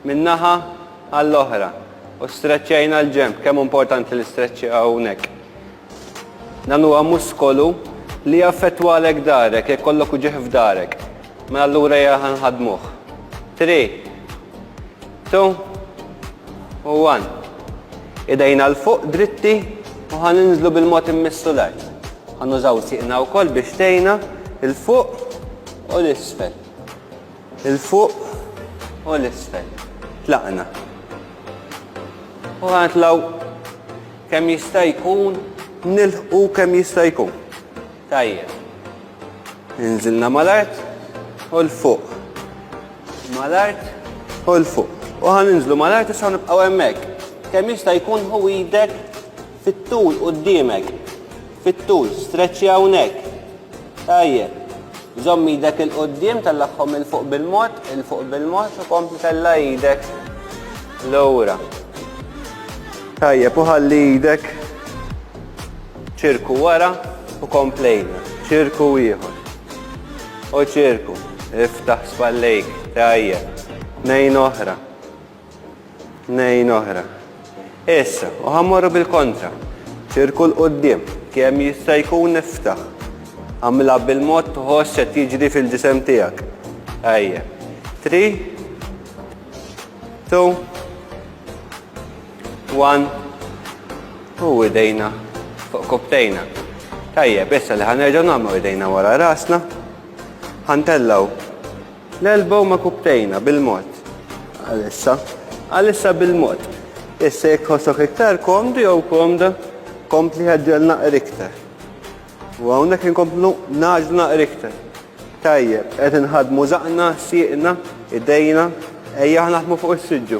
minn naħa għall-oħra u streċċejna l-ġenb, kemm importanti li streċċi hawnhekk. Dan huwa muskolu li jaffettwalek darek jekk kollok uġieħ f'darek. Ma mela allura hija ħanħadmuh. 3 2 u 1. Idejna l fuq dritti u ħan inżlu bil-mod immissu l-art. Ħan użaw siqna wkoll biex tejna il-fuq u l-isfel. 'l fuq u 'l isfel. Tlaqna. U ħa nitlgħu kemm jista' jkun nilħqu kemm jista' jkun. Tajjeb. Inżilna mal-art u 'l fuq. Mal-art u 'l fuq. U ħa ninżlu mal-art issa nibqgħu hemmhekk. Kemm jista' jkun ħu idek Fit-tul quddiemek. Fit-tul. Streċċja hawnhekk. Tajjeb. Żomm idek 'il quddiem, tellagħhom 'il fuq bil-mod, 'il fuq bil-mod u kompli tella' idek lura. Tajjeb, u ħalli idek ċirku wara u komplejna. Ċirku ieħor. U ċirku. Iftaħ spallejk. Tajjeb. Tnejn oħra. Tnejn oħra. Issa, u ħa mmorru bil-kontra. Ċirku 'l quddiem, kemm jista' jkun iftaħ. Agħmilha bil-mod tħoss qed jiġri fil-ġisem tiegħek. Ejja. Three, two, one, u idejna fuq kubtejna. Tajjeb, issa li ħanerġgħu nagħmlu idejna wara rasna. Ħantellaw L-elba huma kubtejna bil-mod. Għalissa. Għalissa bil-mod. Issa jekk ħossok iktar komdu jew komda, kompli ħeġġel naqr iktar. U hawnhekk inkomplu naġlu naqr iktar. Tajjeb, qed inħadmu zaqna, sieqna, idejna, ejja naħdmu fuq is-siġġu.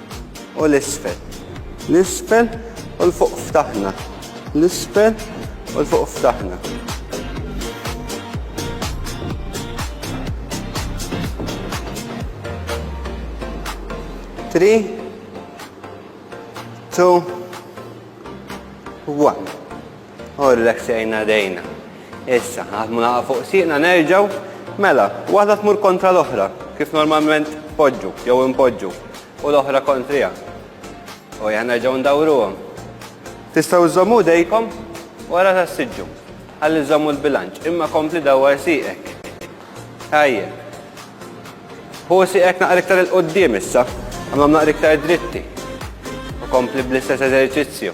u l-isfel. L-isfel u l-fuq ftaħna. L-isfel u l-fuq ftaħna. Three, two, one. U rreksejna jdejna. Issa, naħdmu naqa' fuq sieqna nerġgħu. Mela, waħda tmur kontra l-oħra, kif normalment tpoġġu jew inpoġġu, u l-oħra kontriha. U ejja nerġgħu ndawruhom. Tistgħu żżommu jdejkom wara tas-siġġu ħalli żżommu l-bilanċ, imma kompli dawwar sieqek. Tajjeb. Ħu sieqek naqra iktar 'il quddiem issa, għamlhom naqra iktar dritti. U kompli bl-istess eżerċizzju.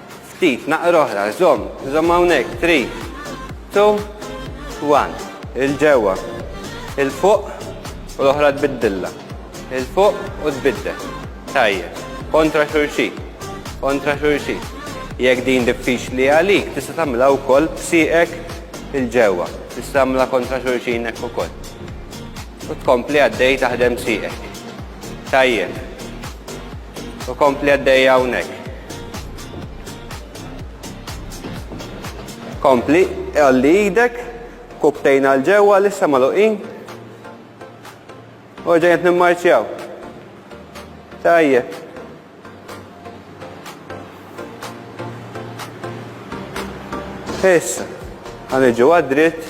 Ftit, naqra oħra, żomm, żomm hawnhekk, 3, 2, 1. Il-ġewwa, il-fuq u l-oħra tbiddilla. Il-fuq u tbiddel. Tajjeb, kontra xulxin, kontra xulxin. Jekk din diffiċli għalik, tista' tagħmilha wkoll b'sieqek il-ġewwa. Tista' tagħmilha kontra xulxin hekk ukoll. U tkompli għaddej taħdem sieqek. Tajjeb. U kompli għaddejja hawnhekk. Kompli, għalli idek, kubtejn għal ġewwa lissa maluqin. U ġejjed nimmarċjaw. Tajjeb. Issa, għaniġu għad-dritt